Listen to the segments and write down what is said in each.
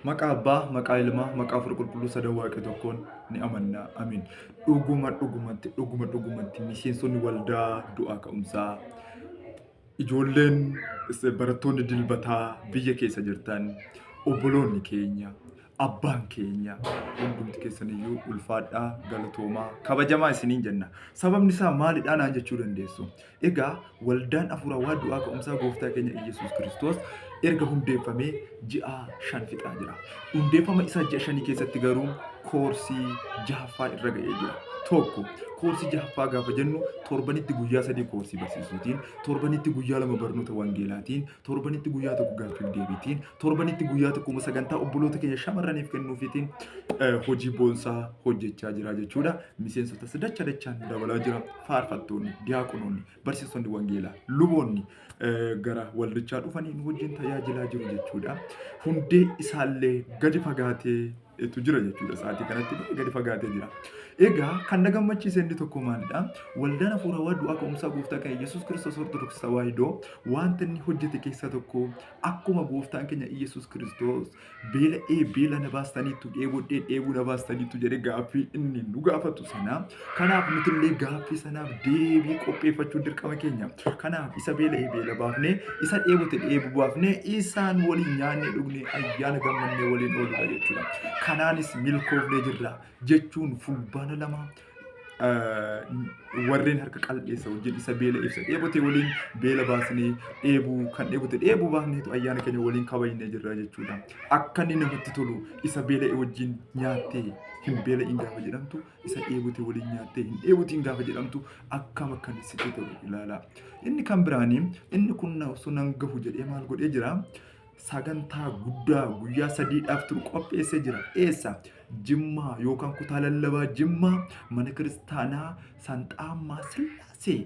Maqaa Abbaa, maqaa Ilmaa, maqaa Hafuura Qulqulluu Sada Waaqi tokkoon ni amanna. Amiin. Dhuguma dhugumatti, dhuguma dhugumatti miseensonni waldaa du'aa ka'umsaa ijoolleen barattoonni dilbataa biyya keessa jirtan obboloonni keenya abbaan keenya hundumti keessaniyyuu ulfaadhaa galatoomaa kabajamaa isiniin jenna. Sababni isaa maalidhaa naan jechuu dandeessu. Egaa waldaan hafuurawaa du'aa ka'umsaa gooftaa keenya Iyyasuus Kiristoos erga hundeeffamee ji'a shan fixaa jira. Hundeeffama isaa ji'a shanii keessatti garuu koorsii jahaffaa irra ga'ee jira. Tokko koorsii jahaffaa gaafa jennu torbanitti guyyaa sadii koorsii barsiisuutiin, torbanitti guyyaa lama barnoota wangeelaatiin, torbanitti guyyaa tokko gaaffiif deebiitiin torbanitti guyyaa tokkuma sagantaa obboloota keenya shamarraniif kennuufiitiin eh, hojii boonsaa hojjechaa jira jechuudha. Miseensotas dacha dachaan dabalaa jira. Faarfattoonni, diyaaqonoonni, barsiisonni wangeelaa, luboonni eh, gara waldichaa dhufanii nu wajjin tajaajilaa jiru jechuudha. Hundee isaallee gadi fagaatee tu jira jechuudha sa'aatii kanatti baay'ee gadi fagaatee jira. Egaa kan na gammachiise inni tokko maalidha? Waldaan hafuura waa du'aa ka'umsaa gooftaa kan Yesuus Kiristoos Ortodoksii Tawaahidoo wanta inni hojjete keessaa tokko akkuma gooftaan keenya Yesuus Kiristoos beela'ee beela na baastaniitu dheebodhee dheebuu na baastaniitu jedhe gaaffii inni nu gaafatu sana Kanaaf nuti illee gaaffii sanaaf deebii qopheeffachuun dirqama keenya. Kanaaf isa beela'e beela baafnee, isa dheebote dheebu baafnee, isaan waliin nyaannee dhugnee ayyaana gammannee waliin ooludha jechuudha. Kanaanis milkoofnee jirra jechuun fulbaana lama warreen harka qal'eessa wajjin isa beela ibsa dheebote waliin beela baasnee dheebuu kan dheebote dheebuu baafneetu ayyaana keenya waliin kabajnee jirra jechuudha. Akka inni namatti tolu isa beela'e wajjin nyaattee hin beela'in gaafa jedhamtu isa dheebute waliin nyaattee hin dheebutiin gaafa jedhamtu akkam akkan sitti ta'u ilaala. Inni kan biraanii inni kun osoo nan gahu jedhee maal godhee jira? Sagantaa guddaa guyyaa sadiidhaaf turu qopheessee jira. Eessa? Jimmaa yookaan kutaa lallabaa Jimmaa mana kiristaanaa Sanxaammaa Sillaasee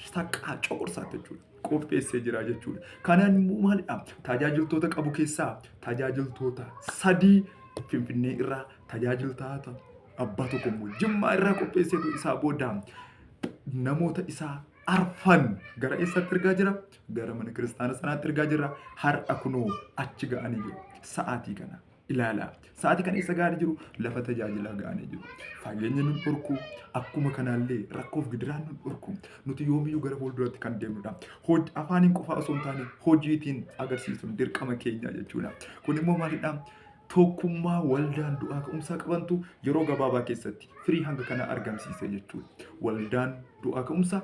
saqqaa coqorsaa jechuudha. Qopheessee jira jechuudha. Kanaan immoo maalidha? Tajaajiltoota qabu keessaa tajaajiltoota sadii Finfinnee irraa tajaajiltoota abbaa tokko immoo jimmaa irraa qopheesseetu isaa booda namoota isaa arfan gara eessaatti ergaa jira? Gara mana kiristaana sanaatti ergaa jira. Har'a kunoo achi ga'anii jiru. Sa'aatii kana ilaalaa. Sa'aatii kana eessa ga'anii jiru? Lafa tajaajilaa ga'anii jiru. Fageenya nun dhorku akkuma kanaallee rakkoof gidiraan nun dhorku. Nuti yoomiyyuu gara fuulduraatti kan deemnudha. Hoj- Afaaniin qofaa osoo hin taane hojiitiin agarsiisuun dirqama keenya jechuudha. Kun immoo maalidha? tokkummaa waldaan du'aa ka'umsaa qabantu yeroo gabaabaa keessatti firii hanga kana argamsiise jechuudha. Waldaan du'aa ka'umsaa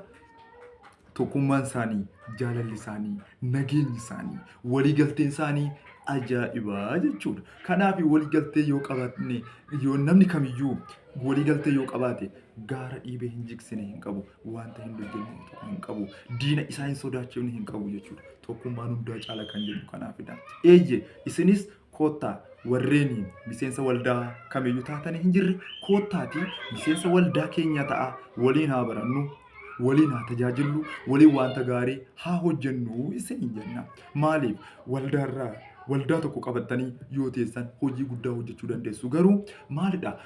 tokkummaan isaanii, jaalalli isaanii, nageenyi isaanii, waliigalteen isaanii ajaa'ibaa jechuudha. Kanaaf waliigaltee yoo qabaanne yoo namni kamiyyuu waliigaltee yoo qabaate gaara dhiibee hin jigsine hin qabu. Wanta hin hojjenne hin qabu. Diina isaa hin sodaachifne hin qabu jechuudha. Tokkummaan hundaa caala kan jedhu kanaafidha. Eeyyee isinis koottaa warreen miseensa waldaa kamiyyuu taatanii hin jirre koottaati miseensa waldaa keenya ta'a waliin haa barannu waliin haa tajaajillu waliin wanta gaarii haa hojjennu isin hin jenna maaliif waldaarraa waldaa tokko qabattanii yoo teessan hojii guddaa hojjechuu dandeessu garuu maalidha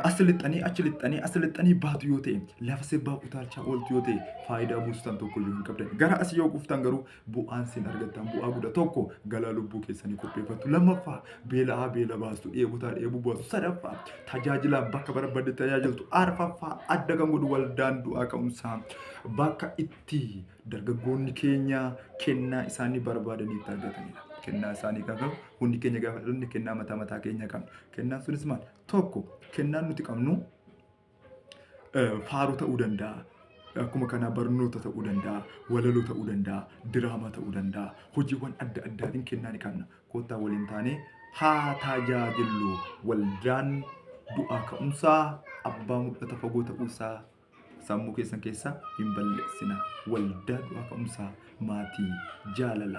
as lixxanii achi lixxanii as lixxanii baatu yoo ta'e lafa sirbaa utaalchaa ooltu yoo ta'e faayidaa buustan tokko iyyuu hin qabdan. Gara as yoo dhuftan garuu bu'aan sin argattan bu'aa guddaa tokko galaa lubbuu keessanii qopheeffattu. Lammaffaa beela'aa beela baastu dheebotaa dheebuu baastu. Sadaffaa tajaajilaan bakka barbaadde tajaajiltu. Arfaffaa adda kan godhu waldaan du'aa ka'umsaa bakka itti Dargaggoonni keenya kennaa isaanii barbaadaniitti argatanidha. Kennaa isaanii kan qabu hundi keenya gaafa dhalonne kennaa mataa mataa keenya qabna. Kennaan sunis maal? Tokko kennaan nuti qabnu faaruu ta'uu danda'a. Akkuma kanaa barnoota ta'uu danda'a, walaloo ta'uu danda'a, diraamaa ta'uu danda'a. Hojiiwwan adda addaatiin kennaa ni qabna. Kottaa waliin taanee haa tajaajillu. Waldaan du'aa ka'umsaa abbaa mul'ata fagoo ta'uu isaa sammuu keessan keessaa hin balleessina. Waldaa Du'aa Ka'umsaa maatii jaalalaa.